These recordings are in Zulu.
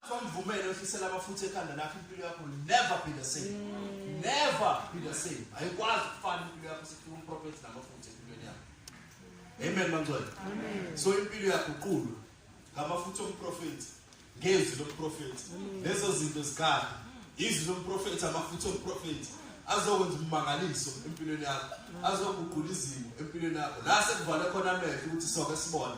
Kwamvumela ofisela abafuthe ekhanda lakho impilo yakho never be the same. Mm. Never be the same. Ayikwazi ukufana impilo yakho sithi umprofeti namafuthe empilweni yakho. Amen mangcwele. Amen. So impilo yakho uqulu ngamafuthe omprofeti ngezwi lomprofeti. Mm. Lezo zinto zikhala. Izwi lomprofeti amafuthe omprofeti azokwenza umangaliso empilweni yakho. Mm. Azoguqula izimo empilweni yakho. La sekuvala khona amehlo ukuthi soke sibone.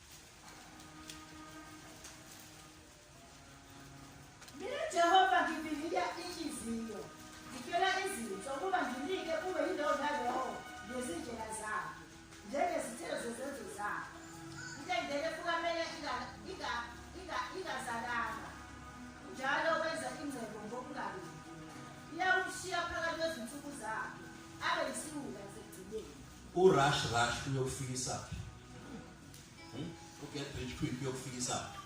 Mina Jehova ngibinika inhliziyo, ngitshela izinto ukuba nginike kube yindawo naleyo ngezindlela zakhe, njengezithelo zezenzo zakhe. Intendele kukamele ingazalanga, njalo wenza ingcebo ngokungabi. Iyawushiya phakathi kwezinsuku zakhe, abe yisiwula U rush rush uyokufikisa phi? Hmm? U get rich quick uyokufikisa phi?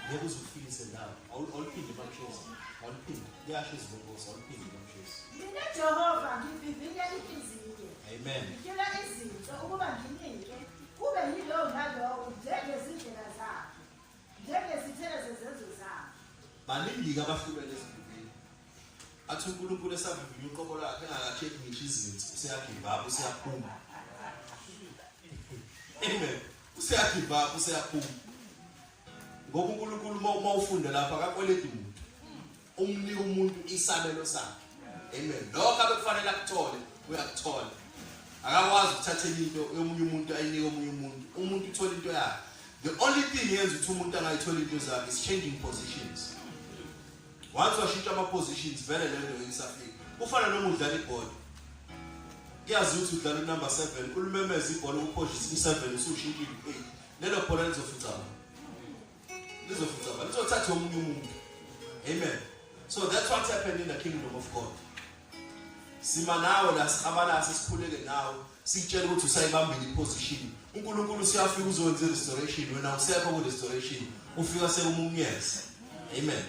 Ngeke uzufikise ndawo. Awuliphinde bakushoza. Awuliphinde. Kuyasho izibongozi awuliphinde bakushoza. Mina Jehova ngivivinya inhliziyo. Amen. Ngicela izinto ukuba nginike kube yilowo nalowo njengezindlela zakhe. Njengezithelo zezenzo zakhe. Baningi abahlukene ezindlini. athi uNkulunkulu esavivinya uqobo lakhe engakacheki ngisho izinto useyagibaba useyaphuma amen useyagibaba useyaphuma ngoba uNkulunkulu uma ufunde lapha akakweleti muntu umnika umuntu isabelo sakhe amen lokho abekufanele akuthole uyakuthola akakwazi ukuthatha into yomunye umuntu ayinike omunye umuntu umuntu uthola into yakhe the only thing yenza ukuthi umuntu angayithola into zakhe is changing positions once washintsha ama positions vele lento yensafika kufana noma udlala ibhola kuyazi ukuthi udlala unumber 7 ulumemeza ibhola ukuphosha isiku-7 usushintsha ilu-8 lelo bhola lizofucaba lizofucaba lizothatha omunye umuntu amen so that's what happened in the kingdom of god sima nawe la sihabalase sikhuleke nawe sitshela ukuthi usayibambile iposition uNkulunkulu siyafika uzokwenza restoration wena usekho ku restoration ufika sekumumyeza amen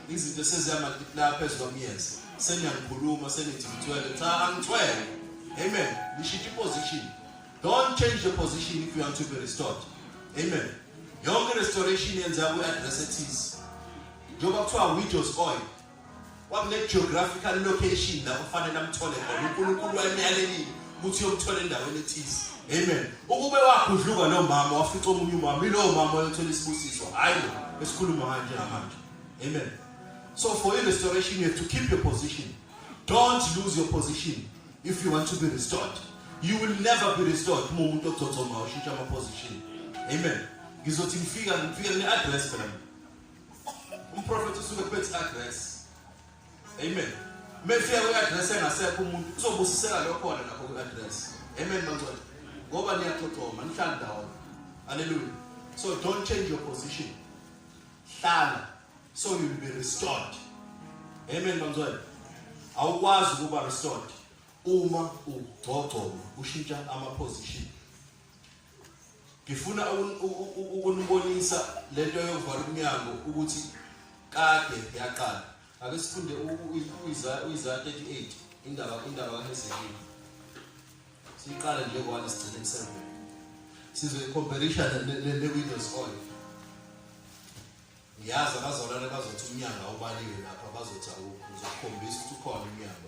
izinto sezihamba la phezulu kwamyeza sengiyakhuluma sengithi ngithwele cha angithwele amen ngishintshe iposition don't change the position if you want to be restored amen yonke restoration yenza ku address ethize njengoba kuthiwa widows oil wamne-geographical location la kufanele amthole khona unkulunkulu wayemyalelile ukuthi uyomthola endaweni ethize amen ukube wagudluka lo mama wafica omunye umama ilowo mama oyothola isibusiso hhayi lo esikhuluma ngayo njengamanje amen so for your restoration you have to keep your position don't lose your position if you want to be restored you will never be restored uma umuntu ogcogcoma ushintsha ama-position amen ngizothi ngifika ngifika kune-address phela umprofethi usuke kubethi address amen mefika kwi-address engasekho umuntu uzobusiseka leyo khona lapho kwi-address amen bangcwele ngoba niyaxoxoma nihlala ndawonye haleluya so don't change your position hlala so you will be restored amen bangcwele awukwazi ukuba restored uma ugcogcoma ushintsha ama-position ngifuna ukunibonisa le nto yokuvala umnyango ukuthi kade yaqala ake sifunde uyizati 38 indaba indaba kahezekiya siyiqale nje one sigcine kuseven sizoyicomparisha ne-windows oil ngiyazi abazalwane bazothi umnyango awubaliwe lapho abazothi awukho uzokhombisa ukuthi ukhona umnyango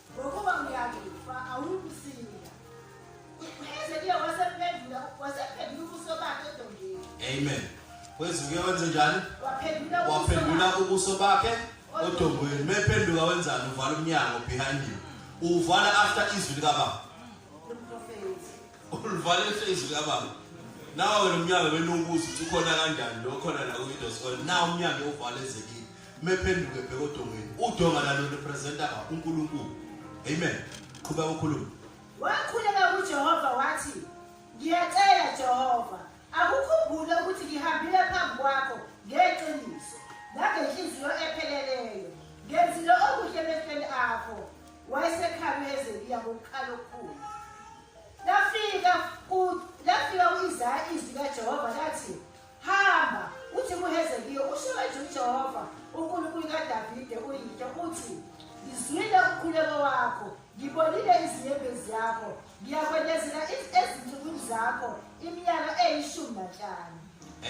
Ngokuba ngiyakufa awukusinda. Ezekiya wasephendula wasephendula ubuso bakhe edongeni. Amen. Kwezukuya wenze njani? Waphendula waphendula ubuso bakhe odongweni. Mephenduka wenzani? Uvala umnyango behind you. Uvala after izwi likababa. Ulivala after izwi likababa. Nawe wena umnyango wenu ubuza ukuthi ukhona kanjani lo khona la ku-Windows Call. Na umnyango uvala ezekile. mephenduke bheka odongweni udonga lalo representa uNkulunkulu amen qhuba ukukhuluma wakhuleka kuJehova wathi ngiyacela Jehova akukhumbule ukuthi ngihambile phambi kwakho ngeqiniso nangenhliziyo epheleleyo ngenzile okuhle emehlweni akho wayesekhala uhezekiya ngokukhala okukhulu lafika lafika u-isaya izwi likajehova lathi Hamba, uthi kuHezekiya, usho kanje uJehova, uNkulunkulu kaDavide uyihlo, uthi, Ngizwile umkhuleko wakho, ngibonile izinyembezi yakho, ngiyakwendezela ezinsukwini zakho iminyaka eyishumi nanhlanu.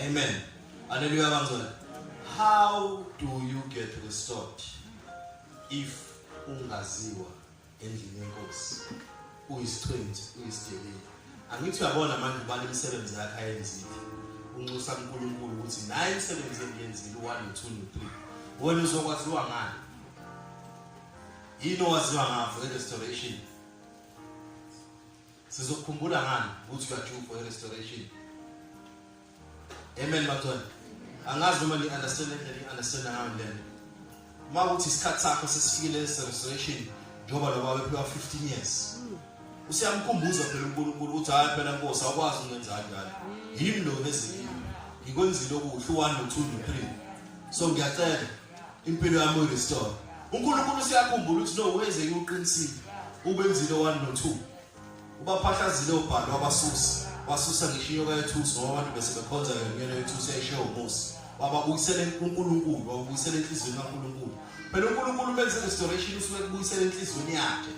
Amen. Hallelujah, bangcwele. How do you get restored if ungaziwa endlini yenkosi uyisithwenzi uyisigebengu angithi uyabona manje ubani imisebenzi yakhe ayenzile unxusa uNkulunkulu ukuthi naye imisebenzi engiyenzile u-1 no-2 no-3 wena uzokwaziwa ngani yini owaziwa ngafo i-restoration sizokukhumbula ngani ukuthi uyajuva i-restoration Amen bathwana. Angazi noma ni understand le ni understand ngayo le. Uma ukuthi isikhathi sakho sesifikile restoration njengoba lo baba ephila 15 years. Usiyamkhumbuza phela uNkulunkulu ukuthi hayi phela Nkosi awukwazi ukwenza kanjalo. Yimi lo nezikini. Ngikwenzile okuhle u1 no2 no3. So ngiyacela impilo yami uyirestore. uNkulunkulu siyakhumbula ukuthi no wenzeke uqinisile ubenzile 1 no 2 ubaphahlazile ubhalo wabasusa wasusa ngisho inyoka yethusi ngoba abantu bese bekhonza yona inyona yethusi yayishiye umusi wababuyisele unkulunkulu wababuyisele enhliziyweni kankulunkulu phela unkulunkulu ubenze restoration usuke kubuyisela enhliziyweni yakhe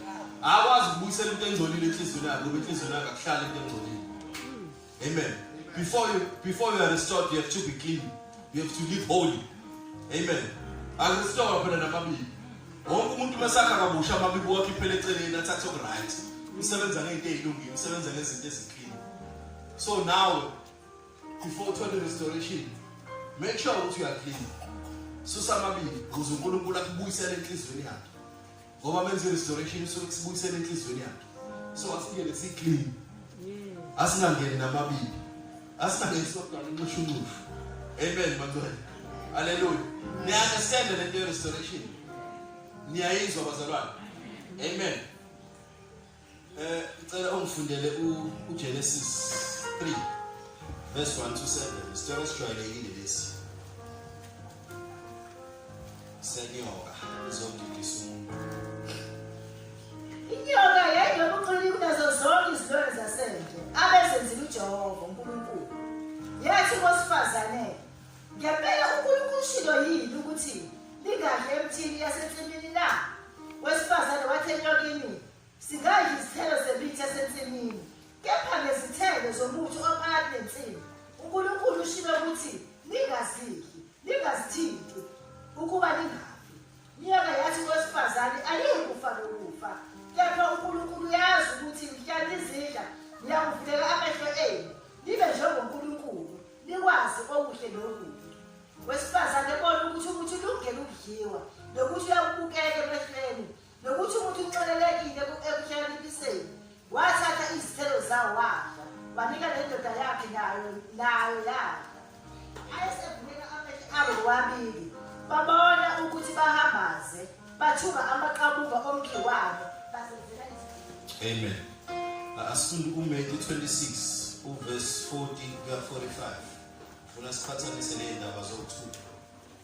akwazi ukubuyisela into engcolile enhliziyweni yakhe ngoba enhliziyweni yakhe akuhlali into engcolile Amen. Before you before you are restored, you have to be clean. You have to live holy. Amen. Akurestore phela namabibi. Wonke umuntu mesakha kabusha amabibi wakhe phela eceleni athathe okuright. Usebenza ngento ezilungile, usebenza ngezinto eziclean. So now before uthole restoration, make sure ukuthi you are clean. Susa amabibi ukuze uNkulunkulu akubuyisele enhlizweni yakhe. ngoba menze restoration so sibuyisele enhlizweni yakhe so asingene si clean asingangeni namabibi asingangeni sokudala unxushu unxushu amen bantwana haleluya niya understand le nto restoration niyayizwa bazalwane amen Eh ngicela ungifundele uGenesis 3 verse 1 to 7. Isitshela esijwayelekile lesi. Senyoka izodidisa umuntu. Inyoka yayinobuqili kunazo zonke izilwane zasendle abezenzile uJehova uNkulunkulu. Yathi kosifazane, ngempela uNkulunkulu ushilo yini ukuthi lingadli emthini yasensimini na? Wesifazane wathi enyokini, Singadla izithelo zemithi esensimini, kepha nezithelo zomuthi ophakathi nensimu. UNkulunkulu ushilo ukuthi ningazidli, ningazithinti, ukuba ningafi. Nyoka yathi kowesifazane, Aliyikufa lokufa, kepha uNkulunkulu uyazi ukuthi mhla nizidla niyakuvuleka amehlo enu, nibe njengoNkulunkulu, nikwazi okuhle nokubi. Wesifazane bona ukuthi umuthi ulungele ukudliwa nokuthi uyakubukeka emehlweni nokuthi umuntu uxolelekile ekuhlakanipiseni wathatha izithelo zawo wadla wanika le ndoda yakhe nayo nayo yadla ayesevumela amehlo abo wabili babona ukuthi bahambaze bathuka amaqabuka omkhiwane basenzela amen asifunda kumatthew 26 uvesi 40 kuya 45 funa siqhathanise ney'ndaba zokuthutha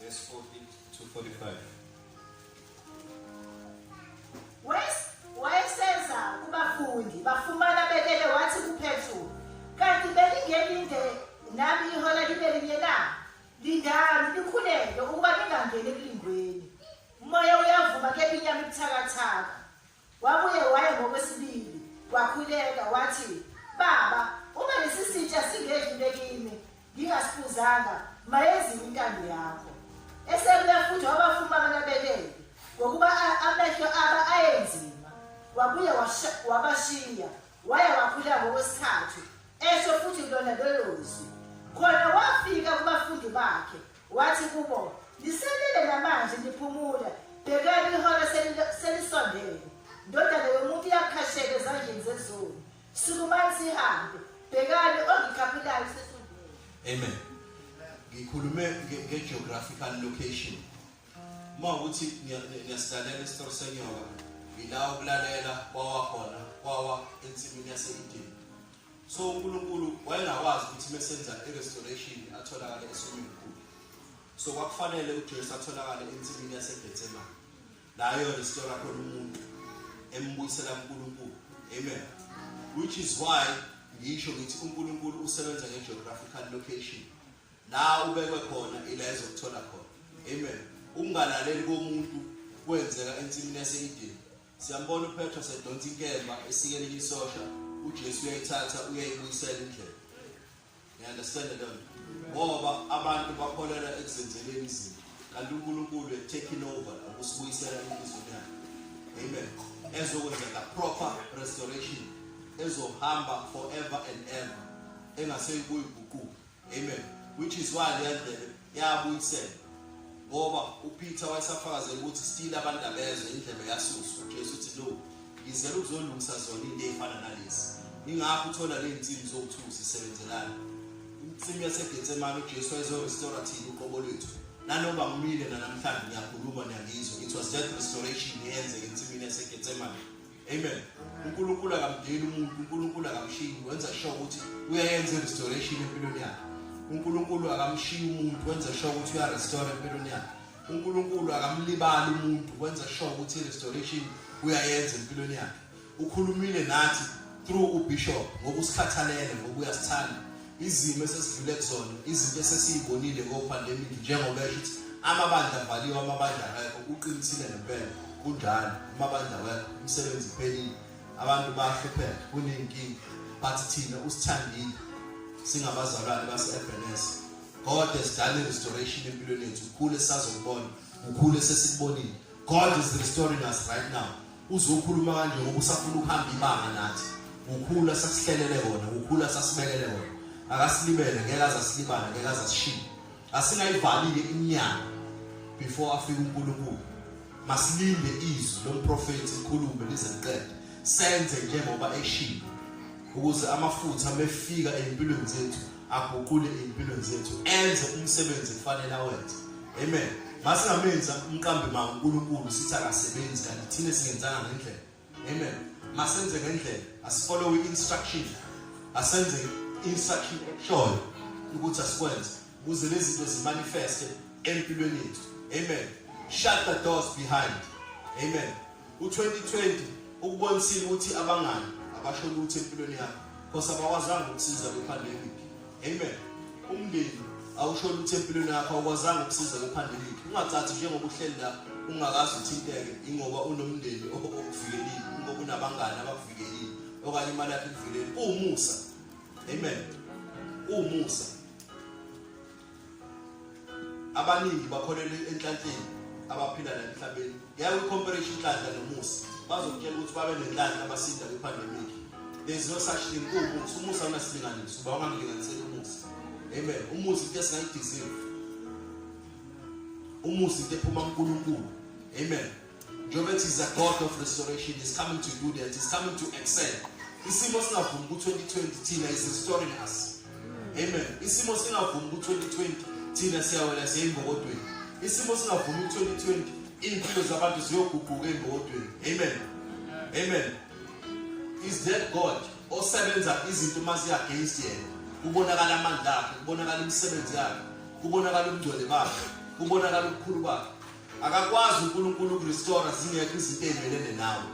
Verse 40 to 45. Wayeseza kubafundi bafumana belele wathi kuPetru, kanti belingelinde nami ihora libe linye na? Lindani nikhuleke ukuba ningangeni ekulingweni. Umoya uyavuma kephi inyama ibuthakathaka. Wabuye waya ngokwesibili, wakhuleka, wathi, Baba, uma lesi sitsha singedlule kimi, ngingasifuzanga, mayenziwe intando yakho. Esebuya futhi wabafuma abanabekelwe, ngokuba amehlo aba ayenzima. Wabuye wabashiya, waya wakhuleka ngokwesithathu, esho futhi lona lolo zwi. Khona wafika kubafundi bakhe, Wathi kubo, Liselele namanje niphumula, bhekani ihora selisondele. Ndodana yomuntu iyakhasheka ezandleni zezulu. Sukumani sihambe, bhekani ongikhaphulayo sesondele. Amen. Ngikhulume nge-geographical location. Uma ukuthi ngiyasilalela isitori senyoka, ngila ukulalela kwawa khona, kwawa ensimini yase-Edeni. so uNkulunkulu wayengakwazi ukuthi mesenza irestoration atholakale eSwimming Pool so kwakufanele uJesu atholakale ensimini yaseBethsemane nayo restore khona umuntu embuyisela uNkulunkulu amen which is why ngisho ngithi uNkulunkulu usebenza ngegeographical location la ubekwe khona ila ezokuthola khona amen ukungalaleli komuntu kwenzeka ensimini yaseEden Siyambona uPetro sedonsa inkemba esikele isosha, uJesu uyayithatha uyayibuyisela indlela. You understand that? Ngoba abantu bakholelwa ekuzenzeleni izinto. Kanti uNkulunkulu is taking over ukusibuyisela inhliziyo yakhe. Amen. Ezokwenzeka proper restoration ezohamba forever and ever engaseyikuyiguquka. amen which is why leyandlebe yabuyisela ngoba uPeter wayesafakazela ukuthi still abantu abezwe indlebe yasuswa uJesu uthi lo ngizela ukuzolungisa zona into efana nalezi ingakho uthola ley'nsimu zokuthusa zisebenzelana insimu yasegetsemane ujesu wayezo-restora thina uqobo lwethu nanoba ngimile nanamhlanje ngiyakhuluma niyangizwa it was that restoration eyenzeka ensimini yasegetsemane amen unkulunkulu akamdeli umuntu unkulunkulu akamshiyi wenza sure ukuthi uyayenza i-restoration empilweni yakhe unkulunkulu akamshiyi umuntu wenza sure ukuthi uyarestore empilweni yakhe unkulunkulu akamlibali umuntu wenza sure ukuthi i-restoration uyayenza empilweni yakhe ukhulumile nathi through ubishop ngokusikhathalele ngokuya sithanda izimo esesidlule kuzona izinto esesiyibonile ngo-pandemic njengoba esho ukuthi amabandla avaliwe amabandla akekho uqinisile ngempela kunjalo amabandla awekho umsebenzi uphelile abantu bayahlupheka kunenkinga but thina usithandile singabazalwane base-ebns god has done restoration empilweni yethu ukhule sazokubona ukhule sesikubonile God is restoring us right now. Uzokhuluma kanje ngoba usafuna ukuhamba ibanga nathi. Ukhula sasihlelele wona, ukhula sasibekele wona. Akasilibele ngeke azasilibala, ngeke azasishiya. Asingayivalile inyanga before afike uNkulunkulu. Masilinde izwi lomprofeti ikhulume lize liqede. Senze njengoba eshilo ukuze amafutha mefika empilweni zethu aguqule impilo zethu enze umsebenzi kufanele awenze amen masingamenza umqambi ma uNkulunkulu sithi akasebenzi kanti thina singenzana ngendlela amen masenze ngendlela asifollow instruction asenze instruction shoyo ukuthi asikwenze ukuze lezi zinto zimanifeste empilweni yethu amen shut the doors behind amen U-2020 ukubonisile ukuthi abangani abasho lutho empilweni yakho khosa bakwazanga ukusiza kwi-pandemic amen umndeni awusho lutho empilweni yakho awukwazanga ukusiza kwi-pandemic ungathathi njengoba uhleli la ungakazi uthinteke ingoba unomndeni okuvikelile ingoba unabangani abakuvikelile okanye imali yakho ikuvikelile uwumusa amen uwumusa abaningi bakholelwa enhlanhleni abaphila la emhlabeni ngeke ucomparation inhlanhla nomusa bazokutshela ukuthi babe nenhlanhla abasinda kwi-pandemic there's no such thing kuwumusa umusa unasilinganiso uba ungamlinganiseli umusa amen umusa into esingayidizive umusa into ephuma kunkulunkulu amen Njengoba ethi is a God of restoration, is coming to do that, is coming to excel. Isimo singavumi ku-2020 thina is restoring us. Amen. Isimo singavumi ku-2020 thina siyawela siye embokodweni. Isimo singavumi ku-2020 iy'mpilo zabantu ziyoguquka embokodweni. Amen. Amen. Is that God osebenza izinto uma ziyi-against yena? Kubonakala amandla akhe, kubonakala imisebenzi yakhe, kubonakala ubungcwele bakhe, kubonakala ubukhulu bakhe. akakwazi uNkulunkulu ukurestore zingekho izinto ezimelene nawe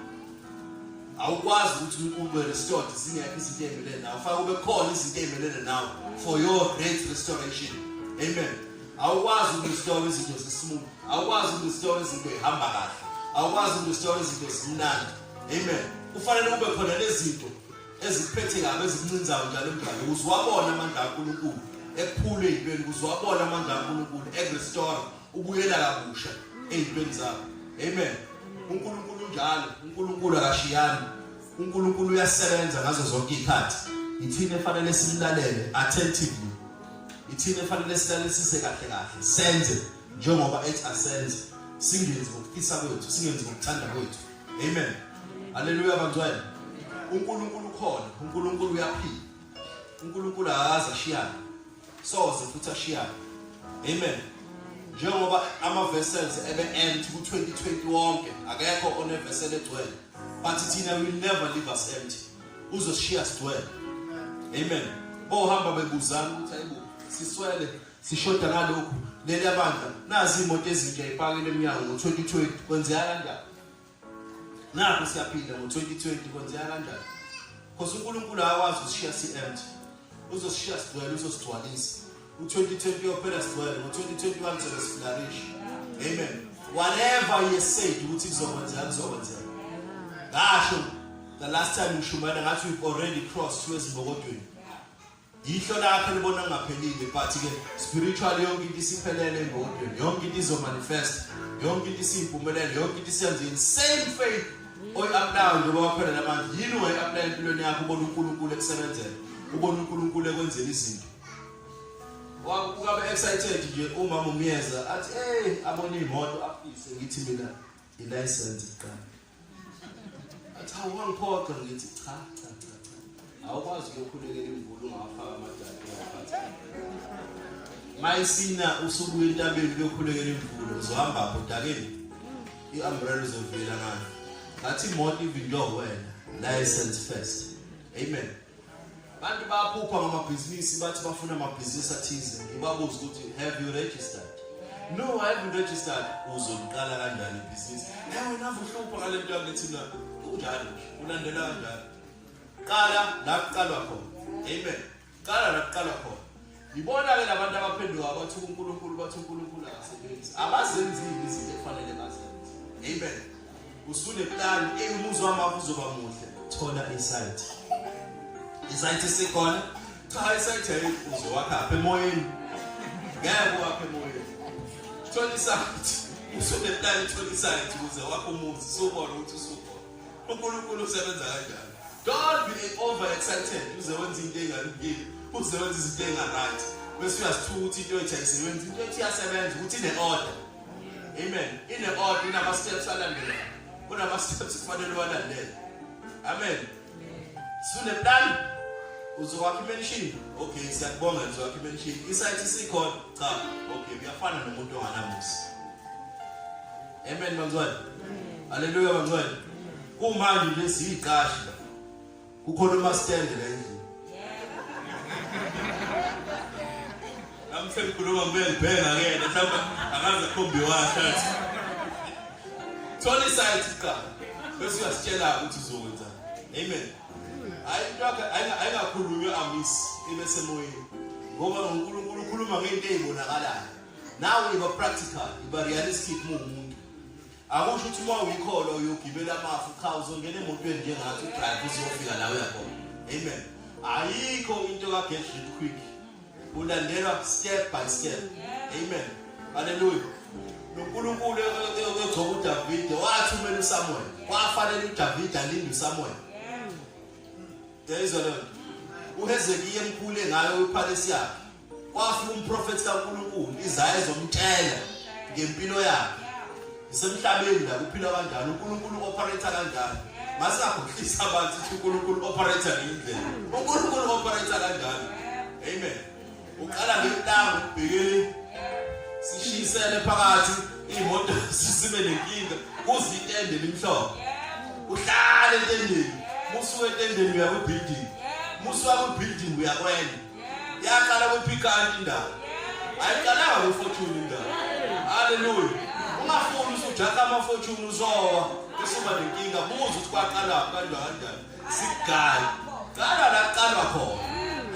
awukwazi ukuthi ube restored zingekho izinto ezimelene nawe fanele kube khona izinto ezimelene nawe for your great restoration amen awukwazi ukurestore izinto zesmooth awukwazi ukurestore izinto ehamba kahle awukwazi ukurestore izinto zimnandi amen kufanele kube khona lezinto ezikuphethe kabi ezikuncinzayo njalo emdlalo ukuze wabona amandla kaNkulunkulu ekuphule ezintweni ukuze wabona amandla kaNkulunkulu ekurestore ubuyela kabusha ezintweni zakho amen uNkulunkulu unjalo uNkulunkulu akashiyani uNkulunkulu uyasebenza ngazo zonke izikhathi ithina efanele simlalele attentively ithina efanele silalelisise kahle kahle senze njengoba ethi asenze singenzi ngokufisa kwethu singenzi ngokuthanda kwethu amen haleluya bantwana uNkulunkulu ukhona uNkulunkulu uyaphila uNkulunkulu akaze ashiyane soze futhi ashiyane amen njengoba ama-vessels ebe-end ku-2020 wonke akekho onevessel egcwele but thina will never leave us empty uzosishiya sigcwele amen bohamba bebuzana ukuthi ayibo siswele sishoda ngalokhu leli abandla nazi imoto ezintsha ipakile emnyango ngo-2020 kwenzeka kanjani Naku siyaphinda ngo-2020 kwenzeka kanjani? Because uNkulunkulu akakwazi ukushiya si-empty. Uzosishiya sigcwele, uzosigcwalisa. U-2020 uyophela sigcwele, ngo-2021 sobe siflarish. Amen. Whatever he has said ukuthi kuzokwenzeka kuzokwenzeka. Ngasho the last time ngishumayela ngathi we've already crossed through ezibokodweni. Yihlo lakhe libona kungaphelile but ke spiritual yonke into isiphelele engqondweni yonke into izomanifest yonke into isiyimpumelelo yonke into isiyenzini same faith oyi-aplayo njengoba wakhona namanje yini ungayi-aplaya empilweni yakho ubona unkulunkulu ekusebenzela ubona unkulunkulu ekwenzela izinto ukabe excited nje umama umyeza athi ey abona iy'moto afise ngithi mina ilayisensi kuqala Cha wangiphoqa ngithi cha cha cha cha. Awukwazi ukukhulekela imvula ungafaka amadala ngaphansi. Mayisina usuku entabeni lokhulekela imvula uzohamba apho dakeni. I-umbrella izovela ngani. Ngathi imoto ivindwa wena. License first. Amen. Abantu baphupha ngamabhizinisi bathi bafuna amabhizinisi athize. Ngibabuza ukuthi have you registered? No, I haven't registered. Uzoliqala kanjani ibhizinisi? Hey wena uhlupha ngale nto yakithi na. Kunjalo nje. Ulandela kanjani? Qala la kuqalwa khona. Amen. Qala la kuqalwa khona. Yibona ke labantu abaphenduka bathi uNkulunkulu bathi uNkulunkulu akasebenzi. Abazenzile izinto efanele bazenze. Amen. Usune plan eyumuzi wami akuzoba muhle. Thola insight. Insight sikhona. Cha insight ayifuzo wakha apha emoyeni. Ngeke wakhe emoyeni. Thola insight. Usune plan thola insight ukuze wakho umuzi. Sobona ukuthi usukhona. uNkulunkulu usebenza kanjani don't be over excited uze wenza into engalungile uze wenza izinto engaright bese uyasithuka ukuthi into ethi ayisebenzi into ethi iyasebenza ukuthi ine-order amen ine-order inama-steps alandelayo kunama-steps kufanele uwalandele amen suneplan uzokwakha imenshini okay siyakubonga uzokwakha imenshini isayithi sikhona cha okay kuyafana nomuntu onganamusa Amen bangcwele. Haleluya bangcwele. Kumanje nje siyiqashi la. Kukhona umastand la endlini. Nami sengikhuluma ngibuye ngibheka ke mhlawumbe akaze khombi washathi. Thola isayithi qala. Bese uyasitshela ukuthi uzokwenza. Amen. Hayi into yakhe ayingakhulunywa amisi ibe semoyeni. Ngoba uNkulunkulu ukhuluma ngento ezibonakalayo. nawe iba practical iba realistic muwumuntu akusho ukuthi uma uyikholo uyogibela amafu cha uzongena emotweni njengathi udrive uzofika la uyakhona amen ayikho into ka-get rich quick ulandelwa step by step amen haleluya nonkulunkulu egcoba udavide wathumela usamuel kwafanele udavide alinde usamuel yayizwa leyo nto uhezekiya emkhule ngayo uphalesi yakhe Wafi umprofethi kaNkulunkulu izayo zomtshela ngempilo yakhe. Isemhlabeni la kuphila kanjani uNkulunkulu operator kanjani? Masingakhohlisa abantu ukuthi uNkulunkulu operator ngendlela. uNkulunkulu operator kanjani? Amen. Uqala ngentambo ubhekele sishisele phakathi imoto sisibe nenkinga kuze itende limhlophe. Uhlale entendeni. Musuke entendeni uya ku building. Musuka ku building uya kwenye. yaqala kuphikana indawo ayiqalanga kufortune indawo haleluya ungafuni usujaka amafortune uzowa usuba nenkinga buza ukuthi kwaqala kanjani kanjani sigala qala la qala khona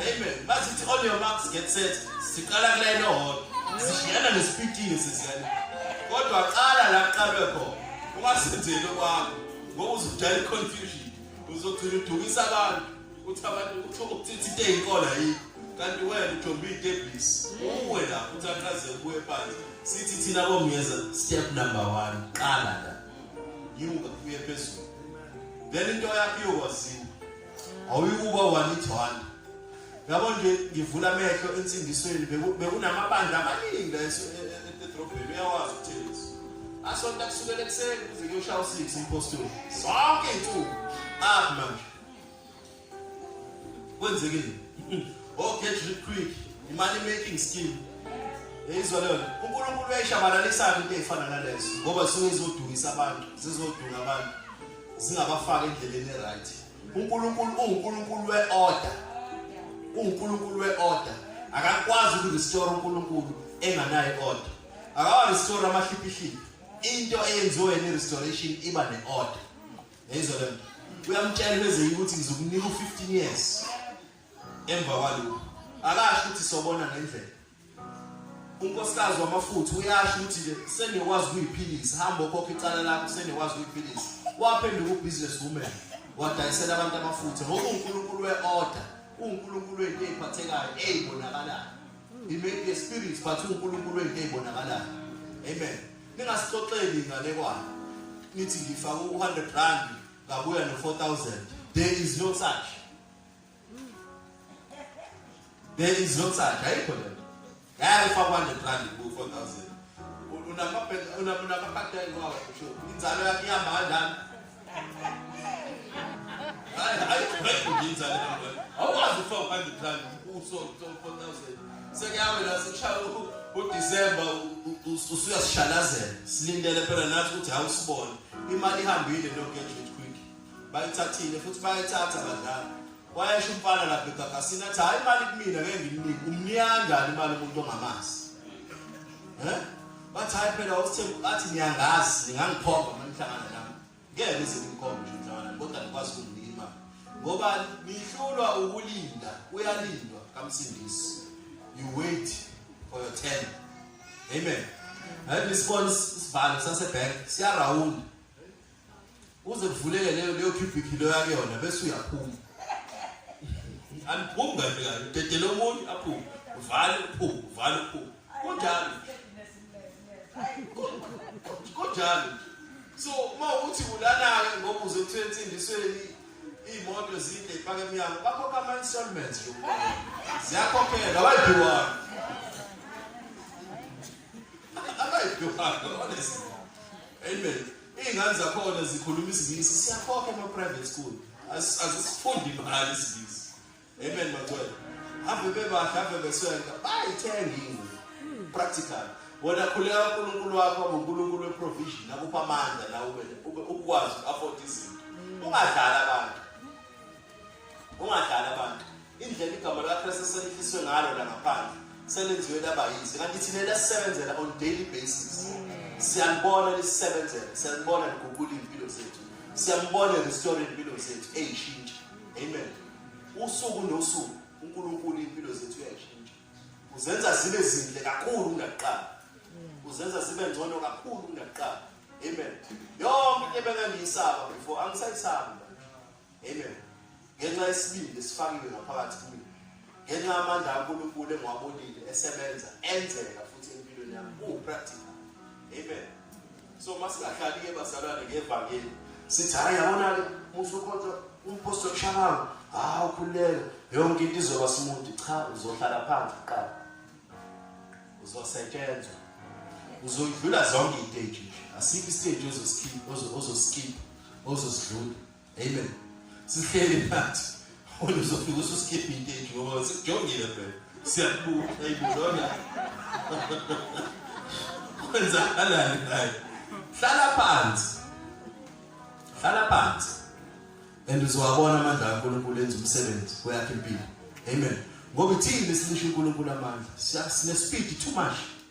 amen masithi on your marks get set siqala kula ino hot sishiyana nesipitini sesiyana kodwa qala la qalwe khona ungasenzeli kwakho ngoba uzodala iconfusion uzogcina udukisa abantu ukuthi abantu ukuthi ukuthi into eyinkola yini kanti wena ujombe idebisi uwe la ukuthi aqaze kuwe phansi sithi thina bomyeza step number 1 qala la yiwuka kuye phezulu then into yakho iyokwazini awuyikuba one it one yabo nje ngivula amehlo ensindisweni bekunamabandla amaningi la edrobheni e, e, uyawazi uthengisa asonta kusukela ekuseni kuze kuyoshaya u-six impostoli zonke iy'nsuku aphi manje kwenzekile oh get rich quick imali making scheme yayizwa leyo unkulunkulu uyayishabalalisa-ke into eyifana nalezo ngoba zisuke zizodukisa abantu zizodunga abantu zingabafaki endleleni e-right unkulunkulu ungunkulunkulu we-order ungunkulunkulu we-order akakwazi ukurestore unkulunkulu enganayo i-order akawarestore amahliphihliphi into eyenziwe yena i-restoration iba ne-order yayizwa le nto uyamtshela ubezeyi ukuthi ngizokunika u-15 years emva kwalokhu akasho ukuthi sobona ngendlela unkosikazi wamafutha uyasho ukuthi ke sengiyokwazi ukuyiphilisa hamba okhokha icala lakho sengiyokwazi ukuyiphilisa waphenduka ubusiness woman wadayisela abantu amafutha ngoba unkulunkulu we-order unkulunkulu wento eyiphathekayo eyibonakalayo he may be a spirit but unkulunkulu wento eyibonakalayo amen ningasixoxeli inganekwane nithi ngifake u-100 rand ngabuya no-4000 there is no such there is no such ayikho le ngeke ufake u-100 rand ku-4000 unamapateni wawo inzalo yakhe ihamba kanjani awukwazi ufaka u-hundred rand uso-4000 sekuyawe la sekushaya udisemba usuyasishalazela silindele phela nathi ukuthi hawu sibone imali ihambile nogejet quick bayithathile futhi bayithatha badlali wayesho umfana lapha egagasini athi hhayi imali kumina ngeke ngimnike umniyangani imali umuntu ongamazi um Bathi hayi phela uSthembu bathi niyangazi ningangikhomba uma nihlangana nami. Ngeke ngize ngimkhombe nje umhlangana kodwa ngikwazi ukumnika imali. Ngoba nihlulwa ukulinda uyalindwa kamsindisi. You wait for your turn. Amen. Hayi nisibona isibhalo sasebank siyarawunda. uze kuvuleke leyo leyo cubic leyo yakuyona bese uyaphuma aliphumi kahle kahle udedele omunye aphume uvale uphume uvale uphume kunjalo kunjalo so uma uthi ulala-ke ngoba uze kuthiwa ensindisweni iy'moto zinde ipaka emnyango bakhokha ama-installments ziyakhokhelwa abayidukanga abayidukanga honest amen Iy'ngane zakhona zikhuluma isiNgisi, siyakhokha ema-private school. Azisifundi imali isiNgisi. Amen, Magcwele. Ave bebahle, ave beswenka, bayithenga ingwe. Practical. Wena khuleka uNkulunkulu wakho ngoNkulunkulu weprovision, akupha amandla nawe ukwazi uku-afford izinto. Ungadlali abantu. ungadlali abantu indlela igama likaKristu selifiswe ngalo la ngaphandle selenziwe laba yize kanti thina lesisebenzela on daily basis siyalibona lisisebenzela siyalibona liguqula impilo zethu siyambona restore impilo zethu eyishintsha amen usuku nosuku uNkulunkulu impilo zethu uyayishintsha uzenza zibe zinhle kakhulu kunakuqala uzenza zibe ngcono kakhulu kunakuqala amen yonke into ebengangiyisaba before angisayisaba Amen. Ngenxa yesibindi esifakiwe ngaphakathi kimi. Ngenxa yamandla kaNkulunkulu engiwabonile esebenza enzeka futhi empilweni yami. Ku practical. Amen. So masingahlali ke bazalwane ngevangeli. Sithi hayi yabona ke musu kodwa umposto kushabayo. Hawu khuleka yonke into izoba smooth cha uzohlala phansi kuqala. Uzosetshenzwa. Uzodlula zonke izinto nje. Asikho isinto ozosikhipha ozosikhipha ozosidlula Amen. Sihleli phansi. Wena uzofika ususkipha into enje ngoba sikujongile phela. Siyakubuka ayibuzona. Kwenzakalani naye? Hlala phansi. Hlala phansi. And uzowabona amandla kaNkulunkulu enza umsebenzi kweyakhe impilo. Amen. Ngoba ithini lesilisho uNkulunkulu amandla? Siyasine speed too much.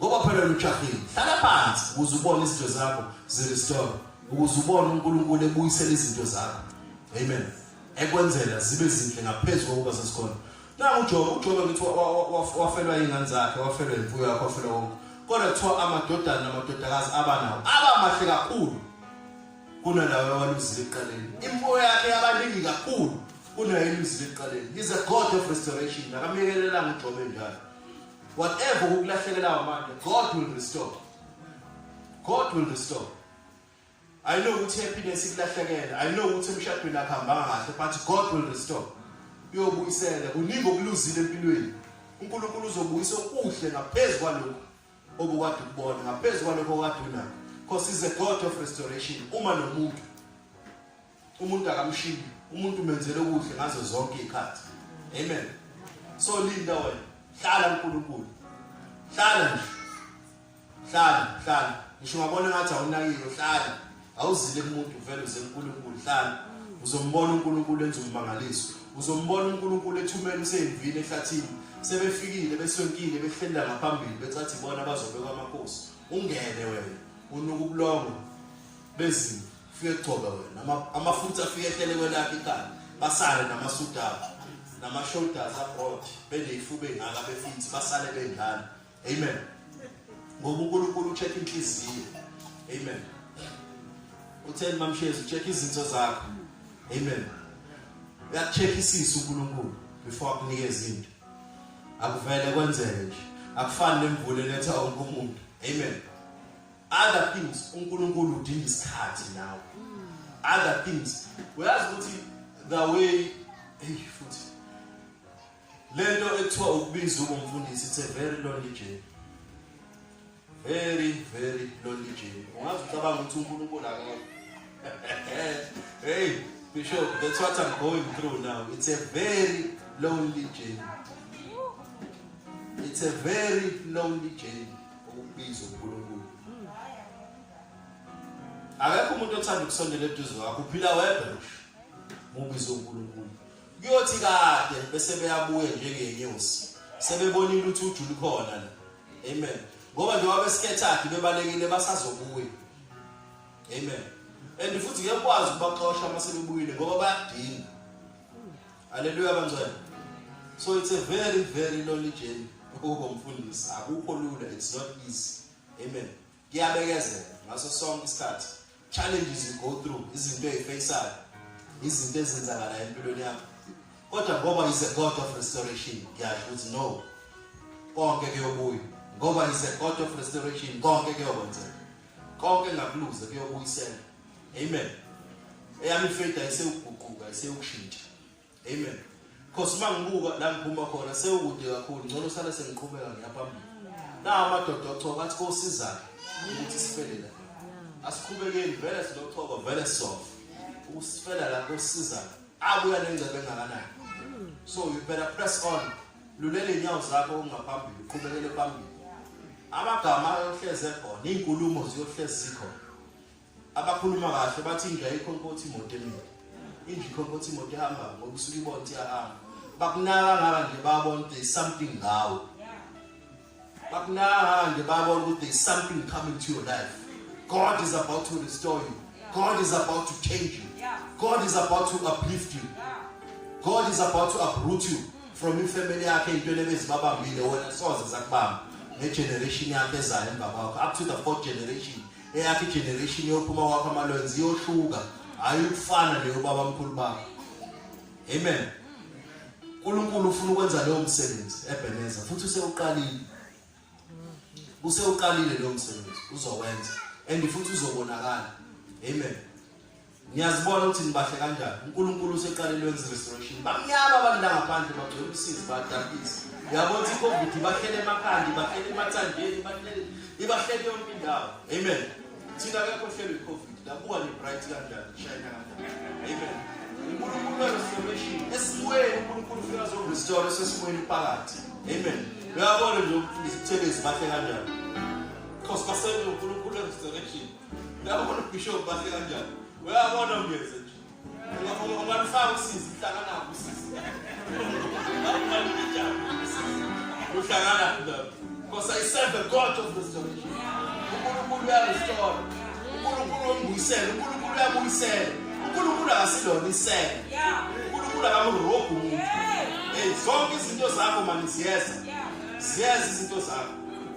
ngoba phela lujahile hlala phansi ukuze ubone izinto zakho zirestore ukuze ubone uNkulunkulu ebuyisela izinto zakho amen ekwenzela zibe zinhle ngaphezulu kokuba sesikhona na uJobe uJobe ngithi wafelwa ingane zakhe wafelwa imfuyo yakhe wafelwa konke kodwa kuthiwa amadodana namadodakazi abanawo aba mahle kakhulu kunalawo waluzile eqaleni imfuyo yakhe yabaningi kakhulu kunayo eluzile eqaleni he's a god of restoration akamekelelanga uJobe njalo Whatever ukulahlekelayo manje, God will restore. God will restore. I know ukuthi happiness ikulahlekela. I know ukuthi emshadweni akuhamba kahle, but God will restore. Uyobuyisela. Kuningi okuluzile empilweni. uNkulunkulu uzobuyisa okuhle ngaphezulu kwalokho obukade ukubona, ngaphezulu kwalokho okade unakho. Because he's a God of restoration. Uma nomuntu umuntu akamshiyi umuntu menzele okuhle ngazo zonke izikhathi amen so linda wena hlala uNkulunkulu hlala nje hlala hlala ngisho ngabona ngathi awunakile hlala awuzile kumuntu vele uze uNkulunkulu hlala uzombona uNkulunkulu enza umangaliso uzombona uNkulunkulu ethumela useyivile ehlathini sebefikile besonkile behlela ngaphambili becathi bona bazobekwa amakhosi ungene wena unuka ubulongo bezimo fike gcoba wena Ama- amafutha afike ehlele kwelakhe ikhanda basale namasudu abo nama-shoulders abroad beney'fuba ey'ngaka befinzi basale bendlala amen ngoba unkulunkulu ucheck inhliziyo amen utheni mamshezi ucheck izinto zakho amen uyakucheck isisu unkulunkulu before akunike izinto akuvele kwenzeke nje akufani nemvula eletha wonke umuntu amen other things uNkulunkulu udinga isikhathi nawe other things uyazi ukuthi the way hey futhi lento ekuthiwa ukubiza ubumfundisi it's a very lonely journey very very lonely journey ungazi ucabanga ukuthi uNkulunkulu akekho hey bishop that's what i'm going through now it's a very lonely journey it's a very lonely journey ukubiza uNkulunkulu akekho umuntu othanda ukusondela eduze kwakho uphila wedwa ngisho mubiza uNkulunkulu kuyothi kade bese beyabuya njengenyosi sebebona ilutho ujulu khona la amen ngoba nje wabesikhethathi bebalekile basazobuya amen and futhi ngiyakwazi ukubaxosha uma sebebuyile ngoba bayadinga Haleluya bangcwele. So it's a very very lonely journey ukuba umfundisi. Akukho lula, it's not easy. Amen. Kuyabekezela ngaso sonke isikhathi. Challenges you go through, izinto ezifaceayo, izinto ezenzakala empilweni yakho. Kodwa ngoba is a God of restoration, ngiyasho ukuthi no. Konke kuyobuya. Ngoba is a God of restoration, konke kuyokwenzeka. Konke ngakuluze kuyobuyisela. amen eyami faith ayisewuguquka ayisewukushintsha amen because uma ngibuka la ngiphuma khona sewukude kakhulu ngcono sale sengiqhubeka ngiyaphambili na amadoda ochoba athi kosizana ukuthi sifele la asikhubekeni vele silochoba vele sisofa ukusifela la kosizana abuya nengcebe engakanani so you better press on lulele inyawo zakho ungaphambili uqhubekele phambili amagama ayohleze khona iinkulumo ziyohlezi zikhona abakhuluma kahle bathi indlu ayikho nkothi imoto emile indlu ikho nkothi imoto ihamba ngoba usuke ibona ukuthi iyahamba bakunaka ngaka nje babona ukuthi there's something ngawo bakunaka nje babona ukuthi there's something coming to your life god is about to restore you god is about to change you god is about to uplift you god is about to uproot you from ifamily yakhe intweni ebezibabambile wena soze zakubamba negeneration yakhe ezayo emva kwakho up to the fourth generation eyakhe generation yophuma kwakho amalwenzi iyohluka hayi ukufana leyo baba mkhulu bakho amen uNkulunkulu ufuna ukwenza leyo msebenzi ebeneza futhi usewuqalile usewuqalile leyo msebenzi uzowenza and futhi uzobonakala amen Ngiyazibona ukuthi nibahle kanjani. UNkulunkulu useqale lwenze restoration. Bamnyama abantu la ngaphandle bagcwele usizi badabhisa. Uyabona ukuthi iCovid ibahlele emakhanda, ibahlele emathandeni, ibahlele ibahlele yonke indawo. Amen. Thina akekho hlelo iCovid. Labuka ni bright kanjani, shine kanjani. Amen. uNkulunkulu werestoration esimweni uNkulunkulu ufika azorestore sesimweni phakathi. Amen. Uyabona nje ukuthi izithelezi bahle kanjani. Because basenze uNkulunkulu werestoration. Uyabona ubishop bahle kanjani? Uyabona ungeze nje. Ungalufaka usizi uhlala nabo usizi. Uhlangana nabo. Because I serve the God of this generation. uNkulunkulu uyarestore uNkulunkulu wembuyisela uNkulunkulu uyabuyisela uNkulunkulu akasilona isela uNkulunkulu akamurobhi umuntu hey zonke izinto zakho mani ziyeza ziyeza izinto zakho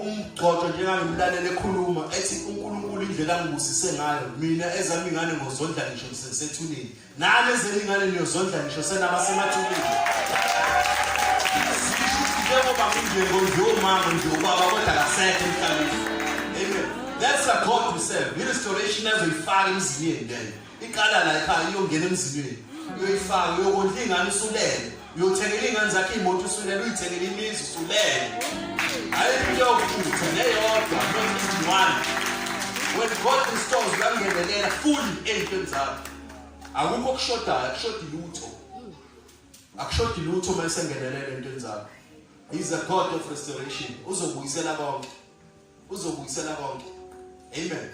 umgxoxo njengangimlalele ekhuluma ethi uNkulunkulu indlela angibusise ngayo mina ezami ingane ngozondla ngisho ngisesethuneni nami ezami ingane niyozondla ngisho senaba semathuneni njengoba nginjengo nje umama nje ubaba kodwa kasekho emhlabeni amen that's the god we serve i-restoration azoyifaka emzini yeni leyo iqala la ekhaya iyongena emzilweni uyoyifaka uyokondla ingane usulele uyothengela iy'ngane zakhe iy'moto usulele uyithengela imizi usulele hhayi into yokuthutha neyodwa nozincwane when god restores uyangenelela full ey'ntweni zakho akukho okushodayo akushodi lutho akushodi lutho uma esengenelela entweni zakho he's a god of restoration uzobuyisela konke uzobuyisela konke amen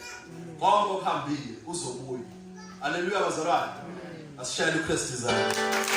konke okuhambile uzobuya haleluya bazalwane asishayele uKristu izandla